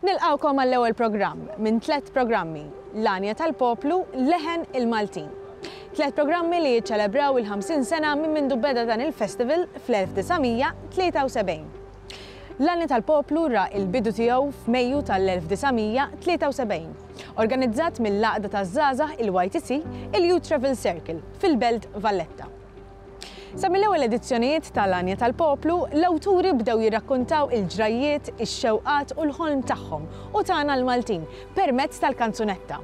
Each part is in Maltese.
Nilqgħukom għall-ewwel programm minn tliet programmi, L-Għanja tal-Poplu, Leħen il-Maltin. Tliet programmi li jiċċelebraw il-ħamsin sena minn mindu beda dan il-festival fl-1973. L-Għanja tal-Poplu ra il-bidu tiegħu f'Mejju tal-1973, organizzat mill-għaqda taż-żgħażagħ il-YTC, il-Youth Travel Circle, fil-Belt Valletta. Sa mill-ewwel edizzjonijiet ta' L-Għanja tal-Poplu, l-awturi bdew jirrakkuntaw il-ġrajjiet, ix-xewqat u l-ħolm tagħhom u tagħna l-Maltin permezz tal-kanzunetta.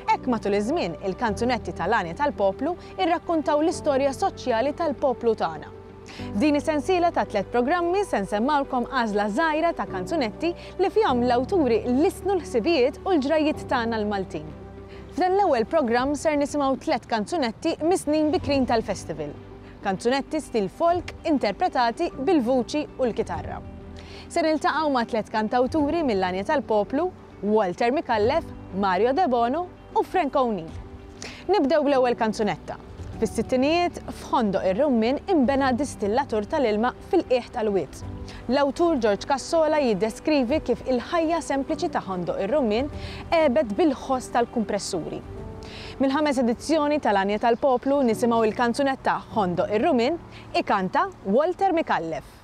Hekk matul iż-żmien, il-kanzunetti ta' L-Għanja tal-Poplu rrakkuntaw l-istorja soċjali tal-poplu tagħna. F'din is-sensiela ta' tliet programmi se nsemmgħulkom għażla żgħira ta' kanzunetti li fihom l-awturi lissnu l-ħsibijiet u l-ġrajjiet tagħna l-Maltin. F'dan l-ewwel programm ser nisimgħu tliet kanzunetti mis-snin bikrin tal-Festival. Kanzunetti stil folk interpretati bil-vuċi u l-kitarra. Se niltaqgħu ma' tliet kantawturi mill-għanja tal-poplu, Walter Micallef, Mario Debono u Frank O'Neill. Nibdew bl-ewwel kanzunetta. Fis-sittinijiet, f'Ħondoq ir-Rummien inbena distillatur tal-ilma fil-qiegħ tal-wied. L-awtur Ġorġ Cassola jiddeskrivi kif il-ħajja sempliċi ta' Ħondoq ir-Rummin għebet bil-ħoss tal-kumpressuri. Mill-ħames edizzjoni tal-Għanja tal-Poplu nisimgħu l-kanzunetta Ħondoq ir-Rummin, ikanta Walter Micallef.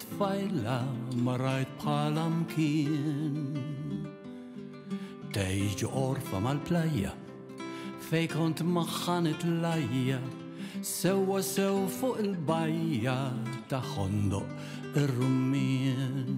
Tfajla ma rajt bħala mkien Tgħix ġo orfa mal-plajja Fej kont magħha nitlajja Sewwa sew fuq il-bajja Ta' ħondoq ir-rummien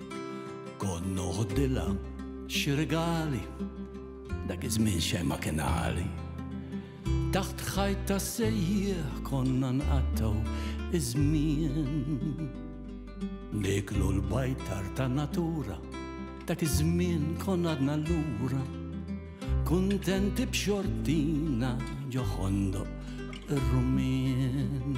Kont noħdilha xi rigali, dak iż-żmien xejn ma kien għali. Taħt ħajt ta' sejjieħ konna nqattaw iż-żmien. Niklu l-bajtar ta' natura, dak iż-żmien konna għadna lura. Kuntenti b'xortina ġoħondoq ir-rumien.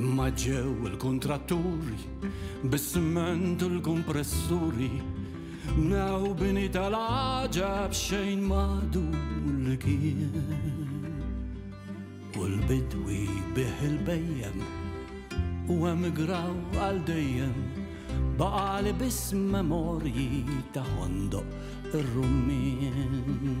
Imma ġew il-kontratturi, bis-siment u l-kompressuri, mnew bini tal-ħaġa b'xejn madu li kien. U l-bidwi bih il-bejjem u emigraw għal dejjem baqali biss memorji ta' ħondoq ir-rummin.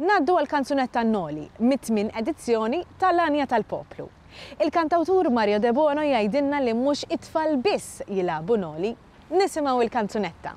Ngħaddu għall-kanzunetta Noli, mit-tmien edizzjoni ta' L-Għanja tal-Poplu. Il-kantawtur Mario Debono jgħidilna li mhux it-tfal biss jilagħbu Noli. Nisimgħu l-kanzunetta.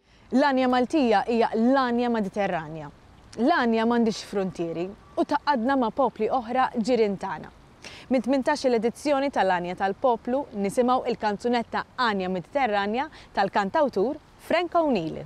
L-għanja Maltija hija l-għanja Mediterranja. L-għanja m'għandhiex fruntieri u tgħaqqadna ma' popli oħra ġirien tagħna. Mit-tmintax-il edizzjoni tal-Għanja tal-Poplu nisimgħu il-kanzunetta Għanja Mediterranja tal-kantawtur Frank O'Neill.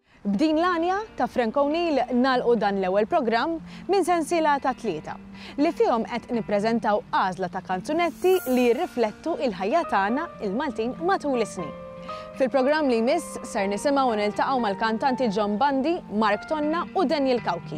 B'din l-għanja ta' Frank O'Neill nagħlqu dan l-ewwel programm minn sensiela ta' tlieta, li fihom qed nippreżentaw għażla ta' kanzunetti li jirriflettu l-ħajja tagħna, il-Maltin, matul is-snin. Fil-programm li jmiss ser nisimgħu u niltaqgħu mal-kantanti John Bandi, Mark Tonna u Daniel Cauchi.